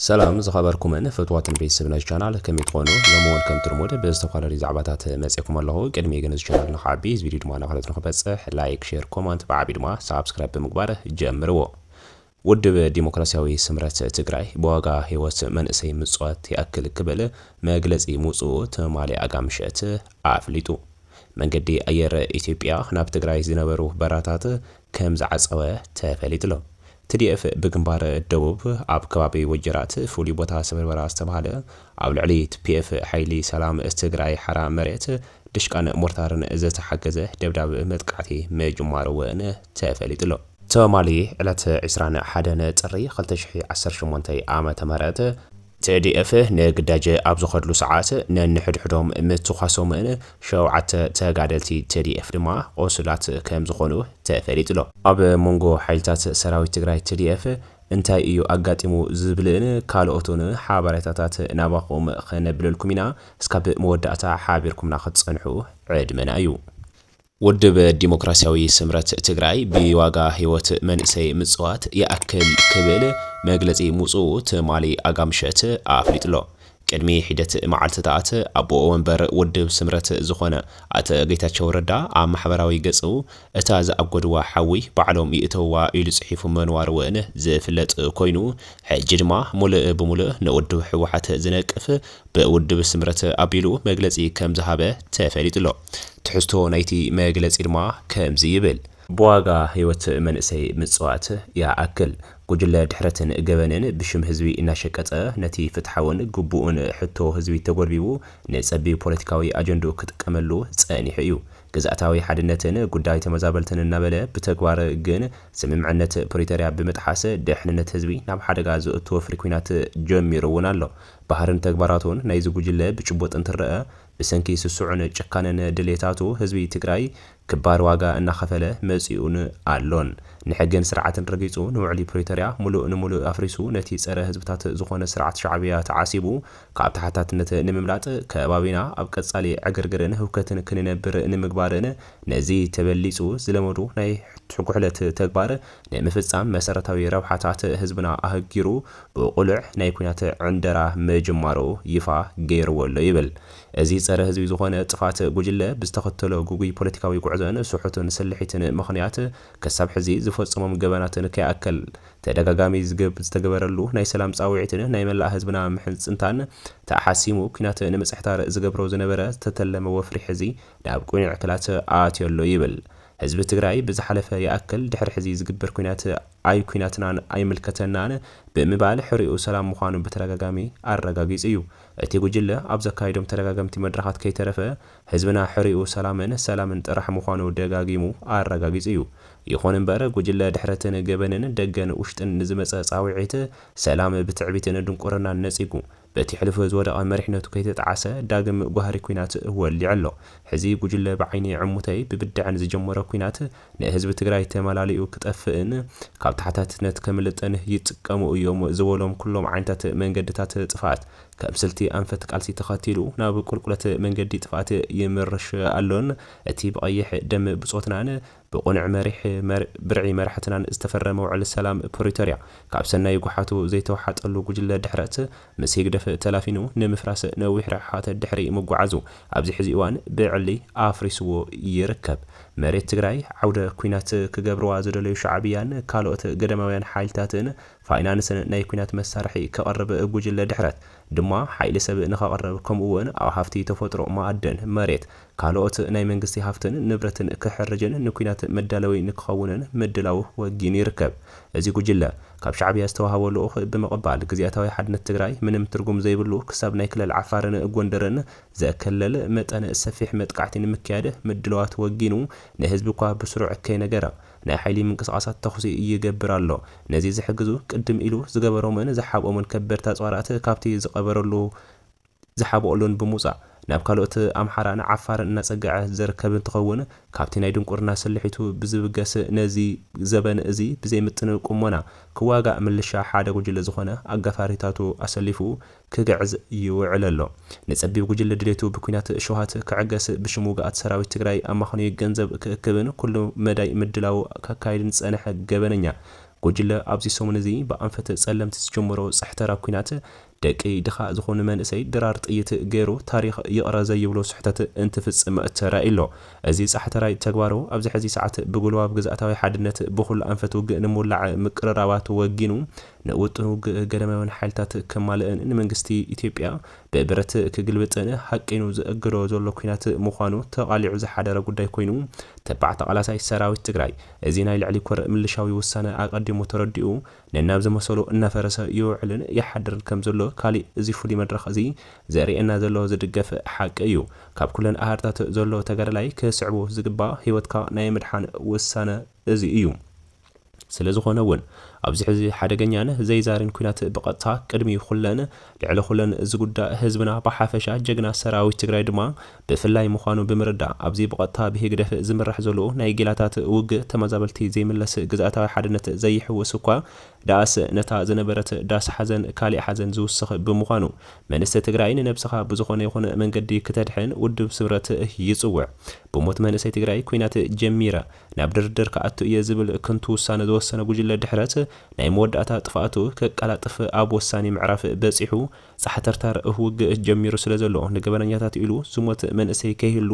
ሰላም ዝኸበርኩምን ፍትዋትን ቤተሰብ ናይዚ ቻናል ከመይ ትኾኑ ሎሚ ውን ከምቲ ልሙድ ብዝተፈላለዩ ዛዕባታት መጼኩም ኣለኹ ቅድሚ ግን እዚ ቻናል ንክዓቢ እዚ ቪድዮ ድማ ናብ ካልኦት ንክበጽሕ ላይክ ሼር ኮማንት ብዓብዩ ድማ ሳብስክራይብ ብምግባር ጀምርዎ ውድብ ዲሞክራሲያዊ ስምረት ትግራይ ብዋጋ ህይወት መንእሰይ ምጽዋት ይኣክል ክብል መግለጺ ምውጽኡ ትማሊ ኣጋምሸት ኣፍሊጡ መንገዲ ኣየር ኢትዮጵያ ናብ ትግራይ ዝነበሩ በራታት ከምዝዓጸወ ተፈሊጡሎ TDF ብግንባር ደቡብ ኣብ ከባቢ ወጀራት ፍሉይ ቦታ ስብርበራ ዝተብሃለ ኣብ ልዕሊ TPF ሓይሊ ሰላም ትግራይ ሓራ መሬት ድሽቃን ሞርታርን ዝተሓገዘ ደብዳብ መጥቃዕቲ ምጅማሩ እውን ተፈሊጡ'ሎ። ትማሊ ዕለት ዕስራን ሓደን ጥሪ ክልተ ሽሕን ዓሰርተ ሸሞንተ ዓመተ ምህረት፣ TDF ንግዳጅ ኣብ ዝኸድሉ ሰዓት ነንሕድሕዶም ምትኳሶምን ሸውዓተ ተጋደልቲ TDF ድማ ቖሱላት ከም ዝኾኑ ተፈሊጡ'ሎ። ኣብ መንጎ ሓይልታት ሰራዊት ትግራይ TDF እንታይ እዩ ኣጋጢሙ ዝብልን ካልኦትን ሓበሬታታት ናባኹም ከነብለልኩም ኢና እስካብ መወዳእታ ሓቢርኩምና ክትፀንሑ ዕድመና እዩ። ውድብ ዲሞክራሲያዊ ስምረት ትግራይ ብዋጋ ህይወት መንእሰይ ምፅዋት ይኣክል ክብል መግለፂ ምውፅኡ ትማሊ ኣጋምሸት ኣፍሊጡ'ሎ። ቅድሚ ሒደት መዓልቲታት ኣቦ ወንበር ውድብ ስምረት ዝኾነ ኣቶ ጌታቸው ረዳ ኣብ ማሕበራዊ ገፁ እታ ዝኣጎድዋ ሓዊ ባዕሎም ይእተውዋ ኢሉ ፅሒፉ ምንዋሩ ውን ዝፍለጥ ኮይኑ ሕጂ ድማ ሙሉእ ብሙሉእ ንውድብ ህወሓት ዝነቅፍ ብውድብ ስምረት ኣቢሉ መግለጺ ከም ዝሃበ ተፈሊጡ'ሎ። ትሕዝቶ ናይቲ መግለጺ ድማ ከምዚ ይብል። ብዋጋ ህይወት መንእሰይ ምጽዋት ይኣክል። ጉጅለ ድሕረትን ገበንን ብሽም ህዝቢ እናሸቀጠ ነቲ ፍትሓውን ግቡእን ሕቶ ህዝቢ ተጎልቢቡ ንጸቢብ ፖለቲካዊ ኣጀንድኡ ክጥቀመሉ ጸኒሑ እዩ። ግዝኣታዊ ሓድነትን ጉዳይ ተመዛበልትን እናበለ ብተግባር ግን ስምምዕነት ፕሪቶርያ ብምጥሓስ ደሕንነት ህዝቢ ናብ ሓደጋ ዘእቱ ወፍሪ ኲናት ጀሚሩ'ውን ኣሎ። ባህርን ተግባራቱን ናይዚ ጉጅለ ብጭቡጥ እንትረኣ ብሰንኪ ስሱዕን ጭካነን ድሌታቱ ህዝቢ ትግራይ ክባር ዋጋ እናኸፈለ መፂኡን ኣሎን። ንሕግን ስርዓትን ረጊፁ ንውዕሊ ፕሪቶርያ ሙሉእ ንሙሉእ ኣፍሪሱ ነቲ ፀረ ህዝብታት ዝኾነ ስርዓት ሻዕብያ ተዓሲቡ ካብ ተሓታትነት ንምምላጥ ከባቢና ኣብ ቀፃሊ ዕግርግርን ህውከትን ክንነብር ንምግባርን ነዚ ተበሊፁ ዝለመዱ ናይ ሕጉሕለት ተግባር ንምፍጻም መሰረታዊ ረብሓታት ህዝብና ኣህጊሩ ብቑልዕ ናይ ኩናት ዕንደራ ምጅማሩ ይፋ ገይርዎ ኣሎ ይብል። እዚ ጸረ ህዝቢ ዝኾነ ጥፋት ጉጅለ ብዝተኸተሎ ግጉይ ፖለቲካዊ ጉዕዞን ስሑቱን ስልሒትን ምኽንያት ክሳብ ሕዚ ዝፈጸሞም ገበናትን ከይኣክል ተደጋጋሚ ዝተገበረሉ ናይ ሰላም ጻውዒትን ናይ መላእ ህዝብና ምሕጽንታን ተሓሲሙ ኩናት ንምጽሕታር ዝገብሮ ዝነበረ ዝተተለመ ወፍሪ ሕዚ ናብ ቅኑዕ ክላት ኣትዮ ኣሎ ይብል። ህዝቢ ትግራይ ብዝሓለፈ ይኣክል ድሕሪ ሕዚ ዝግበር ኲናት ኣይ ኲናትናን ኣይምልከተናን ብምባል ሕሪኡ ሰላም ምዃኑ ብተደጋጋሚ ኣረጋጊፁ እዩ። እቲ ጉጅለ ኣብ ዘካይዶም ተደጋገምቲ መድረኻት ከይተረፈ ህዝብና ሕሪኡ ሰላምን ሰላምን ጥራሕ ምዃኑ ደጋጊሙ ኣረጋጊፁ እዩ። ይኹን እምበር ጉጅለ ድሕረትን ገበንን ደገን ውሽጥን ንዝመፀ ፃውዒት ሰላም ብትዕቢትን ድንቁርናን ነፂጉ በቲ ሕሉፍ ዝወደቐ መሪሕነቱ ከይተጠዓሰ ዳግም ጓህሪ ኲናት ወሊዑ ኣሎ። ሕዚ ጉጅለ ብዓይኒ ዕሙተይ ብብድዐን ዝጀመሮ ኲናት ንህዝቢ ትግራይ ተመላሊኡ ክጠፍእን ካብ ተሓታትነት ከምልጥን ይጥቀሙ እዮም ዝበሎም ኩሎም ዓይነታት መንገድታት ጥፍኣት ከም ስልቲ ኣንፈት ቃልሲ ተኸቲሉ ናብ ቁልቁለት መንገዲ ጥፍኣት ይምርሽ ኣሎን እቲ ብቐይሕ ደም ብፆትናን ብቕኑዕ መሪሕ ብርዒ መራሕትናን ዝተፈረመ ውዕል ሰላም ፕሪቶርያ ካብ ሰናይ ጉሓቱ ዘይተወሓጠሉ ጉጅለ ድሕረት ምስ ህግደፍ ተላፊኑ ንምፍራስ ነዊሕ ርሕሓት ድሕሪ ምጉዓዙ ኣብዚ ሕዚ እዋን ብዕሊ ኣፍሪስዎ ይርከብ። መሬት ትግራይ ዓውደ ኩናት ክገብርዋ ዝደለዩ ሻዕብያን ካልኦት ገዳማውያን ሓይልታትን ፋይናንስን ናይ ኩናት መሳርሒ ከቕርብ ጉጅለ ድሕረት ድማ ሓይሊ ሰብ ንኸቕርብ ከምኡ እውን ኣብ ሃፍቲ ተፈጥሮ ማእድን መሬት ካልኦት ናይ መንግስቲ ሃፍትን ንብረትን ክሕርጅን ንኲናት መዳለዊ ንክኸውንን ምድላዉ ወጊኑ ይርከብ። እዚ ጉጅለ፣ ካብ ሻዕብያ ዝተዋህቦ ልኡኽ ብምቕባል ግዝያታዊ ሓድነት ትግራይ ምንም ትርጉም ዘይብሉ ክሳብ ናይ ክልል ዓፋርን ጎንደርን ዘከለል መጠነ ሰፊሕ መጥቃዕቲ ንምክያድ ምድላዋት ወጊኑ ንህዝቢ እኳ ብስሩዕ ከይነገረ ናይ ሓይሊ ምንቅስቓሳት ተኹሲ ይገብር ኣሎ። ነዚ ዝሕግዙ ቅድም ኢሉ ዝገበሮምን ዝሓብኦምን ከበድቲ ኣፅዋራት ካብቲ ዝቐበረሉ ዝሓብኦሉን ብምውጻእ ናብ ካልኦት ኣምሓራን ዓፋርን እናጸግዐ ዝርከብ እንትኸውን ካብቲ ናይ ድንቁርና ስልሒቱ ብዝብገስ ነዚ ዘበን እዚ ብዘይምጥን ቁሞና ክዋጋእ ምልሻ ሓደ ጉጅለ ዝኾነ ኣጋፋሪታቱ ኣሰሊፉ ክግዕዝ ይውዕል ኣሎ። ንጸቢብ ጉጅለ ድሌቱ ብኲናት ሸውሃት ክዕገስ ብሽም ውጉኣት ሰራዊት ትግራይ ኣማኽንዩ ገንዘብ ክእክብን ኩሉ መዳይ ምድላው ከካይድን ዝጸነሐ ገበነኛ ጉጅለ ኣብዚ ሰሙን እዚ ብኣንፈት ጸለምቲ ዝጀመሮ ጽሕተራ ኲናት ደቂ ድኻ ዝኾኑ መንእሰይ ድራር ጥይት ገይሩ ታሪኽ ይቕረ ዘይብሎ ስሕተት እንትፍጽም ተራእዩ'ሎ። እዚ ጻሕተራይ ተግባሩ ኣብዚ ሕዚ ሰዓት ብጉልባብ ግዝኣታዊ ሓድነት ብኹሉ ኣንፈት ውግእ ንምውላዕ ምቅርራባት ወጊኑ ንውጥኑ ውግእ ገዳማውያን ሓይልታት ከማልእን ንመንግስቲ ኢትዮጵያ ብብረት ክግልብጥን ሃቂኑ ዘእግዶ ዘሎ ኲናት ምዃኑ ተቓሊዑ ዝሓደረ ጉዳይ ኮይኑ ተባዕ ተቓላሳይ ሰራዊት ትግራይ እዚ ናይ ልዕሊ ኮር ምልሻዊ ውሳነ ኣቐዲሙ ተረዲኡ ነናብ ዝመሰሉ እናፈረሰ ይውዕልን ይሓድርን ከም ዘሎ ካሊእ እዚ ፍሉይ መድረኽ እዚ ዘርእየና ዘሎ ዝድገፍ ሓቂ እዩ። ካብ ኩለን ኣሃድታት ዘሎ ተጋዳላይ ክስዕቦ ዝግባእ ህይወትካ ናይ ምድሓን ውሳነ እዚ እዩ። ስለዝኾነ እውን ኣብዚ ሕዚ ሓደገኛን ዘይዛሪን ኩናት ብቐጥታ ቅድሚ ኩለን ልዕሊ ኩለን እዚ ጉዳእ ህዝብና ብሓፈሻ ጀግና ሰራዊት ትግራይ ድማ ብፍላይ ምዃኑ ብምርዳእ ኣብዚ ብቐጥታ ብህግደፍ ዝምራሕ ዘሎ ናይ ጌላታት ውግእ ተመዛበልቲ ዘይምለስ ግዝኣታዊ ሓድነት ዘይሕውስ እኳ ደኣስ ነታ ዝነበረት ዳስ ሓዘን ካሊእ ሓዘን ዝውስኽ ብምዃኑ መንስቲ ትግራይ ንነብስኻ ብዝኾነ ይኹን መንገዲ ክተድሕን ውድብ ስምረት ይፅውዕ ብሞት መንእሰይ ትግራይ ኩናት ጀሚረ ናብ ድርድር ክኣቱ እየ ዝብል ክንቱ ውሳነ ዝወሰነ ጉጅለ ድሕረት ናይ መወዳእታ ጥፍኣቱ ከቃላጥፍ ኣብ ወሳኒ ምዕራፍ በጺሑ ጻሕተርተር ውግእ ጀሚሩ ስለ ዘሎ ንገበነኛታት ኢሉ ዝሞት መንእሰይ ከይህሉ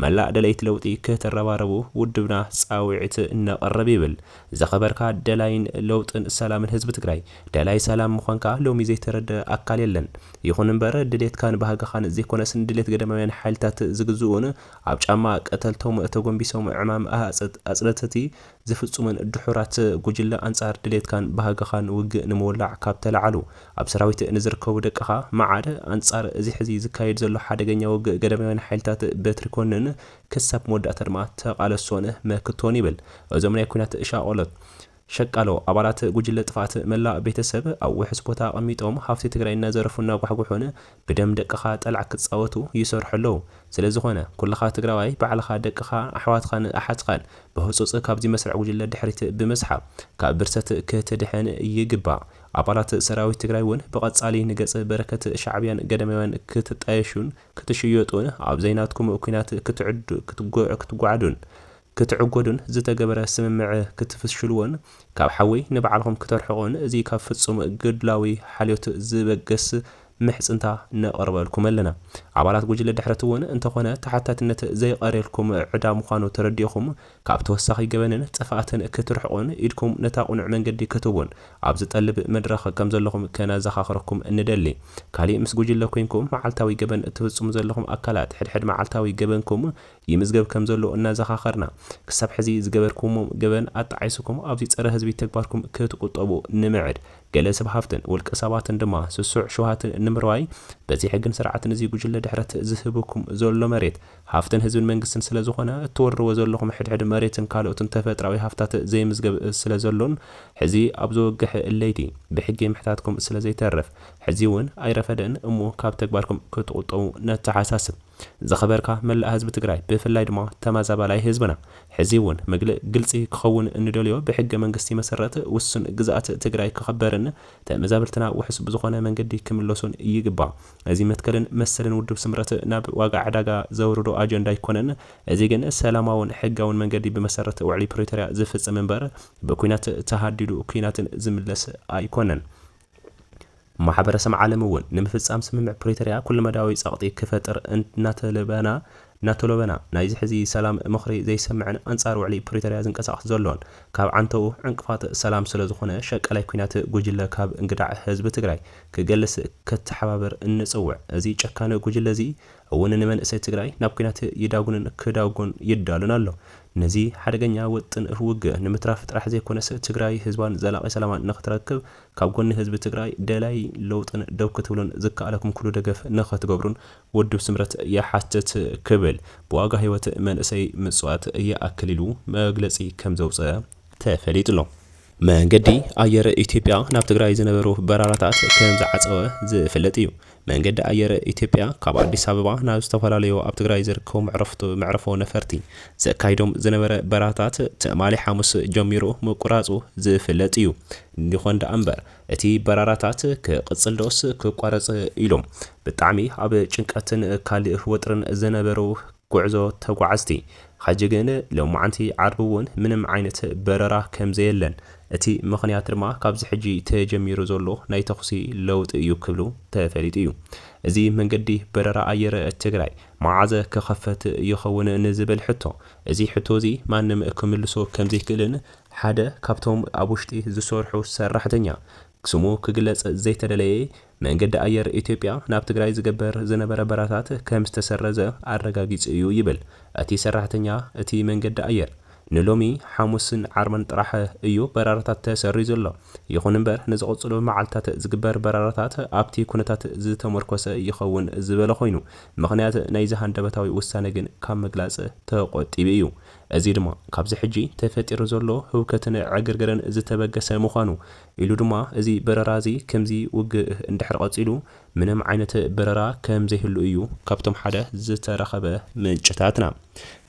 መላእ ደለይቲ ለውጢ ክትረባረቡ ውድብና ጻዊዒት ነቕርብ ይብል። ዝኸበርካ ደላይን ለውጥን ሰላምን ህዝቢ ትግራይ ደላይ ሰላም ምዃንካ ሎሚ ዘይተረደኣ ኣካል የለን። ይኹን እምበር ድሌትካን ባህግኻን ዘይኮነስ ንድሌት ገዳማውያን ሓይልታት ዝግዝኡን ኣብ ጫማ ቀተልቶም ተጎንቢሶም ዕማም ኣጽነትቲ ዝፍጹመን ድሑራት ጉጅለ ኣንጻር ድሌትካን ባህግኻን ውግእ ንምውላዕ ካብ ተላዓሉ ኣብ ሰራዊት ንዝርከቡ ደቅኻ መዓረ ኣንጻር እዚ ሕዚ ዝካየድ ዘሎ ሓደገኛ ውግእ ገዳማውያን ሓይልታት በትሪ ኮንን ክሳብ መወዳእታ ድማ ተቓለሶን መክቶን ይብል እዞም ናይ ኩናት ሻቖሎት ሸቃሎ ኣባላት ጉጅለ ጥፍኣት መላእ ቤተሰብ ኣብ ውሑስ ቦታ ኣቐሚጦም ሃፍቲ ትግራይ እናዘረፉ እናጓሕጉሑን ብደም ደቅኻ ጠላዕ ክጻወቱ ይሰርሑ ኣለዉ ስለዝኾነ ኩልኻ ትግራዋይ ባዕልኻ ደቅኻ ኣሕዋትኻን ኣሓትካን ብህጹጽ ካብዚ መስርዕ ጉጅለ ድሕሪት ብምስሓብ ካብ ብርሰት ክትድሕን ይግባእ ኣባላት ሰራዊት ትግራይ ውን ብቀጻሊ ንገጽ በረከት ሻዕብያን ገዳማውያን ክትጣየሹን ክትሽየጡን ኣብዘይናትኩም ኩናት ክትጉዓዱን ክትዕጎዱን ዝተገበረ ስምምዕ ክትፍሽልዎን ካብ ሓዊ ንባዕልኹም ክተርሕቁን እዚ ካብ ፍጹም ግድላዊ ሓልዮት ዝበገስ ምሕጽንታ ነቕርበልኩም ኣለና። ኣባላት ጉጅለ ድሕረት'ውን እንተኾነ ተሓታትነት ዘይቐርየልኩም ዕዳ ምዃኑ ተረዲእኹም ካብ ተወሳኺ ገበንን ጥፍኣትን ክትርሕቁን ኢድኩም ነታ ቁኑዕ መንገዲ ክትህቡን ኣብ ዝጠልብ መድረኽ ከምዘለኹም ከነዘኻኽረኩም ንደሊ። ካሊእ ምስ ጉጅለ ኮንኩም መዓልታዊ ገበን እትፍጽሙ ዘለኹም ኣካላት ሕድሕድ መዓልታዊ ገበንኩም ይምዝገብ ከምዘሎ እናዘኻኸርና፣ ክሳብ ሕዚ ዝገበርኩምዎም ገበን ኣጣዒስኩም ኣብዚ ጸረ ህዝቢ ተግባርኩም ክትቁጠቡ ንምዕድ። ገለ ሰብ ሃፍትን ውልቀ ሰባትን ድማ ስሱዕ ሽውሃትን ንምርዋይ በዚ ሕግን ስርዓትን እዚ ጉጅለ ድሕረት ዝህብኩም ዘሎ መሬት ሃፍትን ህዝብን መንግስትን ስለዝኾነ እትወርርዎ ዘለኹም ሕድሕድ መሬትን ካልኦትን ተፈጥራዊ ሃፍታት ዘይምዝገብ ስለዘሎን ሕዚ ኣብ ዘወግሕ ለይቲ ብሕጊ ምሕታትኩም ስለዘይተርፍ ሕዚውን ኣይረፈደን እሞ ካብ ተግባርኩም ክትቁጠቡ ነተሓሳስብ። ዝኸበርካ መላእ ህዝቢ ትግራይ ብፍላይ ድማ ተማዛባላይ ህዝብና ሕዚ እውን ምግል ግልፂ ክኸውን እንደልዮ ብሕገ መንግስቲ መሰረት ውሱን ግዝኣት ትግራይ ክኸበርን ተመዛበልትና ውሑስ ብዝኾነ መንገዲ ክምለሱን ይግባእ እዚ መትከልን መሰልን ውድብ ስምረት ናብ ዋጋ ዕዳጋ ዘውርዶ ኣጀንዳ ኣይኮነን እዚ ግን ሰላማውን ሕጋውን መንገዲ ብመሰረት ውዕሊ ፕሪቶርያ ዝፍፅም እምበር ብኩናት ተሃዲዱ ኩናትን ዝምለስ ኣይኮነን። ማሕበረሰም ዓለም እውን ንምፍፃም ስምምዕ ፕሪተርያ ኩለመዳያዊ ፀቕጢ ክፈጥር እናተለበና እናተሎበና ናይዚ ሕዚ ሰላም ምኽሪ ዘይሰምዕን ኣንፃር ውዕሊ ፕሪተርያ ዝንቀሳቐስ ዘሎን ካብ ዓንተኡ ዕንቅፋት ሰላም ስለዝኾነ ሸቃላይ ኩናት ጉጅለ ካብ እንግዳዕ ህዝቢ ትግራይ ክገልስ ክተሓባበር እንፅውዕ እዚ ጨካን ጉጅለ እዚ እውን ንመንእሰይ ትግራይ ናብ ኲናት ይዳጉንን ክዳጎን ይዳሎን ኣሎ። ነዚ ሓደገኛ ውጥን ውግእ ንምትራፍ ጥራሕ ዘይኮነስ ትግራይ ህዝባን ዘላቒ ሰላማን ንክትረክብ ካብ ጎኒ ህዝቢ ትግራይ ደላይ ለውጥን ደው ክትብሉን ዝከኣለኩም ኩሉ ደገፍ ንክትገብሩን ውድብ ስምረት ይሓትት ክብል ብዋጋ ህይወት መንእሰይ ምፅዋት ይኣክል ኢሉ መግለፂ ከምዘውፀ ተፈሊጡ'ሎ። መንገዲ ኣየር ኢትዮጵያ ናብ ትግራይ ዝነበሩ በረራታት ከምዝዓፀወ ዝፍለጥ እዩ። መንገዲ ኣየር ኢትዮጵያ ካብ ኣዲስ ኣበባ ናብ ዝተፈላለዩ ኣብ ትግራይ ዝርከቡ መዕርፎ ነፈርቲ ዘካይዶም ዝነበረ በረራታት ትማሊ ሓሙስ ጀሚሩ ምቁራፁ ዝፍለጥ እዩ። ይኾን ደኣ እምበር እቲ በረራታት ክቕፅል ዶስ ክቋረፅ ኢሎም ብጣዕሚ ኣብ ጭንቀትን ካሊእ ወጥሪን ዝነበሩ ጉዕዞ ተጓዓዝቲ፣ ሕጂ ግን ሎማዕንቲ ዓርቢ እውን ምንም ዓይነት በረራ ከምዘየለን እቲ ምኽንያት ድማ ካብዚ ሕጂ ተጀሚሩ ዘሎ ናይ ተኹሲ ለውጢ እዩ ክብሉ ተፈሊጡ እዩ። እዚ መንገዲ በረራ ኣየር ትግራይ መዓዘ ክኸፈት ይኸውን ንዝብል ሕቶ እዚ ሕቶ እዚ ማንም ክምልሶ ከምዘይክእልን ሓደ ካብቶም ኣብ ውሽጢ ዝሰርሑ ሰራሕተኛ ስሙ ክግለፅ ዘይተደለየ መንገዲ ኣየር ኢትዮጵያ ናብ ትግራይ ዝግበር ዝነበረ በራታት ከምዝተሰረዘ ኣረጋጊጹ እዩ ይብል እቲ ሰራሕተኛ እቲ መንገዲ ኣየር። ንሎሚ ሓሙስን ዓርብን ጥራሕ እዩ በራራታት ተሰሪዙ ኣሎ። ይኹን እምበር ንዝቕፅሉ መዓልትታት ዝግበር በራራታት ኣብቲ ኩነታት ዝተሞርኮሰ ይኸውን ዝበለ ኮይኑ ምኽንያት ናይዚ ሃንደበታዊ ውሳነ ግን ካብ ምግላፅ ተቖጢቡ እዩ። እዚ ድማ ካብዚ ሕጂ ተፈጢሩ ዘሎ ህውከትን ዕግርግርን ዝተበገሰ ምዃኑ ኢሉ ድማ እዚ በረራ እዚ ክምዚ ውግእ እንድሕር ቐጺሉ ምንም ዓይነት በረራ ከም ዘይህሉ እዩ ካብቶም ሓደ ዝተረኸበ ምንጭታትና።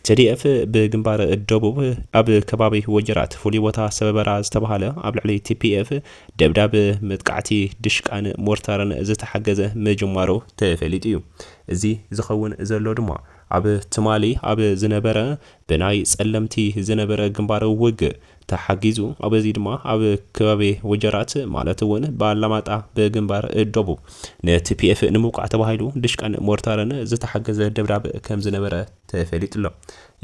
TDF ብግንባር ደቡብ ኣብ ከባቢ ወጀራት ፍሉይ ቦታ ሰበበራ ዝተባሃለ ኣብ ልዕሊ TPF ደብዳብ መጥቃዕቲ ድሽቃን ሞርታርን ዝተሓገዘ ምጅማሩ ተፈሊጡ እዩ። እዚ ዝኸውን ዘሎ ድማ ኣብ ትማሊ ኣብ ዝነበረ ብናይ ጸለምቲ ዝነበረ ግንባር ውግእ ተሓጊዙ በዚ ድማ ኣብ ከባቢ ወጀራት ማለት እውን ብኣላማጣ ብግንባር ደቡብ ንቲፒኤፍ ንምውቃዕ ተባሂሉ ድሽቃን ሞርታርን ዝተሓገዘ ደብዳብ ከምዝነበረ ተፈሊጡ'ሎ።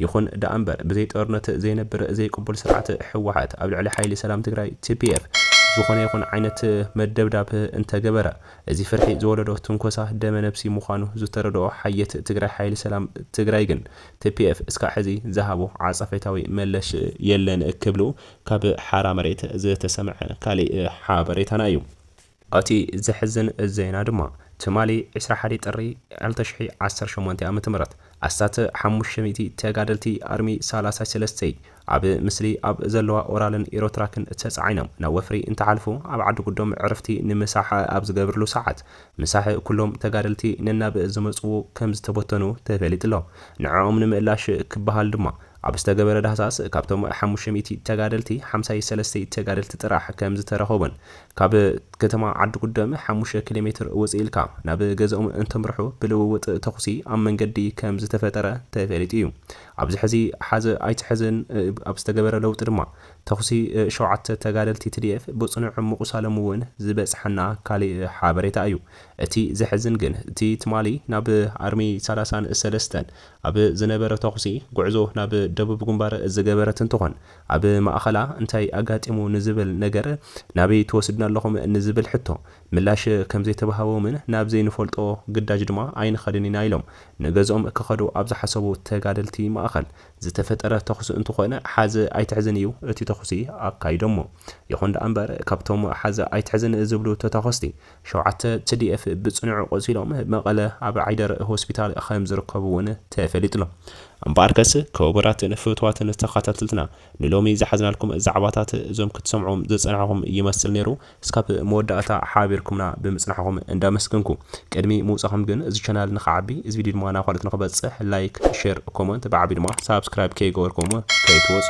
ይኹን ደኣምበር ብዘይ ጦርነት ዘይነብር ዘይቅቡል ስርዓት ህወሓት ኣብ ልዕሊ ሓይሊ ሰላም ትግራይ፣ ቲፒኤፍ፣ ዝኾነ ይኹን ዓይነት መደብዳብ እንተገበረ እዚ ፍርሒ ዝወለዶ ትንኮሳ ደመ ነብሲ ምዃኑ ዝተረድኦ ሓየት ትግራይ ሓይሊ ሰላም ትግራይ ግን ቲፒኤፍ እስካዕ ሕዚ ዝሃቦ ዓጸፌታዊ መለሽ የለን ክብሉ ካብ ሓራ መሬት ዝተሰምዐ ካሊእ ሓበሬታና እዩ። ኣቲ ዘሕዝን ዜና ድማ ትማሊ ዕስራ ሓደ ጥሪ ዕልተ ሽሕ ዓሰርተ ሸሞንተ ኣመተ ምህረት ኣስታት ሓሙሽተ ሚእቲ ተጋደልቲ ኣርሚ ሳላሳይ ሰለስተይ ኣብ ምስሊ ኣብ ዘለዋ ኦራልን ኢሮትራክን ተጻዒኖም ናብ ወፍሪ እንትሓልፉ ኣብ ዓዲ ጉዶም ዕርፍቲ ንምሳሕ ኣብ ዝገብርሉ ሰዓት ምሳሕ ኩሎም ተጋደልቲ ነናብ ዝመጽዎ ከም ዝተበተኑ ተፈሊጡ'ሎ። ንዕኦም ንምእላሽ ክበሃል ድማ ኣብ ዝተገበረ ዳህሳስ ካብቶም ሓሙሽተ ሚእቲ ተጋደልቲ ሓምሳይ ሰለስተይ ተጋደልቲ ጥራሕ ከም ዝተረኸቡን ካብ ከተማ ዓዲ ጉዶም ሓሙሽተ ኪሎ ሜትር ውጽእ ኢልካ ናብ ገዝኦም እንተምርሑ ብልውውጥ ተኹሲ ኣብ መንገዲ ከም ዝተፈጠረ ተፈሊጡ እዩ። ኣብዚ ሕዚ ሓዘ ኣይትሐዘን ኣብ ዝተገበረ ለውጢ ድማ ተኹሲ ሸውዓተ ተጋደልቲ ትዲኤፍ ብፅኑዕ ምቑሳሎም እውን ዝበፅሐና ካሊእ ሓበሬታ እዩ። እቲ ዘሕዝን ግን እቲ ትማሊ ናብ ኣርሚ ሰላሳን ሰለስተን ኣብ ዝነበረ ተኹሲ ጉዕዞ ናብ ደቡብ ግንባር ዝገበረት እንትኾን ኣብ ማእኸላ እንታይ ኣጋጢሙ ንዝብል ነገር ናበይ ትወስዱና ኣለኹም ንዝብል ሕቶ ምላሽ ከምዘይተባህቦምን ናብ ዘይንፈልጦ ግዳጅ ድማ ኣይንኸድን ኢና ኢሎም ንገዝኦም ክኸዱ ኣብ ዝሓሰቡ ተጋደልቲ ማእኸል ዝተፈጠረ ተኹሲ እንትኾን ሓዝ ኣይትሕዝን እዩ እቲ ተኹሲ ኣካይዶሞ። ይኹን ደኣ እምበር ካብቶም ሓዝ ኣይትሕዝን ዝብሉ ተታኾስቲ ሸውዓተ tdf ብፅኑዕ ቆሲሎም መቐለ ኣብ ዓይደር ሆስፒታል ከምዝርከቡ እውን ተፈሊጡ'ሎ። እምበኣርከስ ክቡራትን ፍትዋትን ተኻታተልትና ንሎሚ ዝሓዝናልኩም ዛዕባታት እዞም ክትሰምዑዎም ዝጸናሕኹም ይመስል ነይሩ። እስካብ መወዳእታ ሓቢርኩምና ብምጽናሕኹም እንዳመስገንኩ ቅድሚ ምውጻኹም ግን እዚ ቻናል ንኽዓቢ እዚ ቪድዮ ድማ ናብ ካልኦት ንኽበጽሕ ላይክ ሸር ኮሞንት ብዓቢኡ ድማ ሳብስክራይብ ከይገበርኩም ከይትወጹ።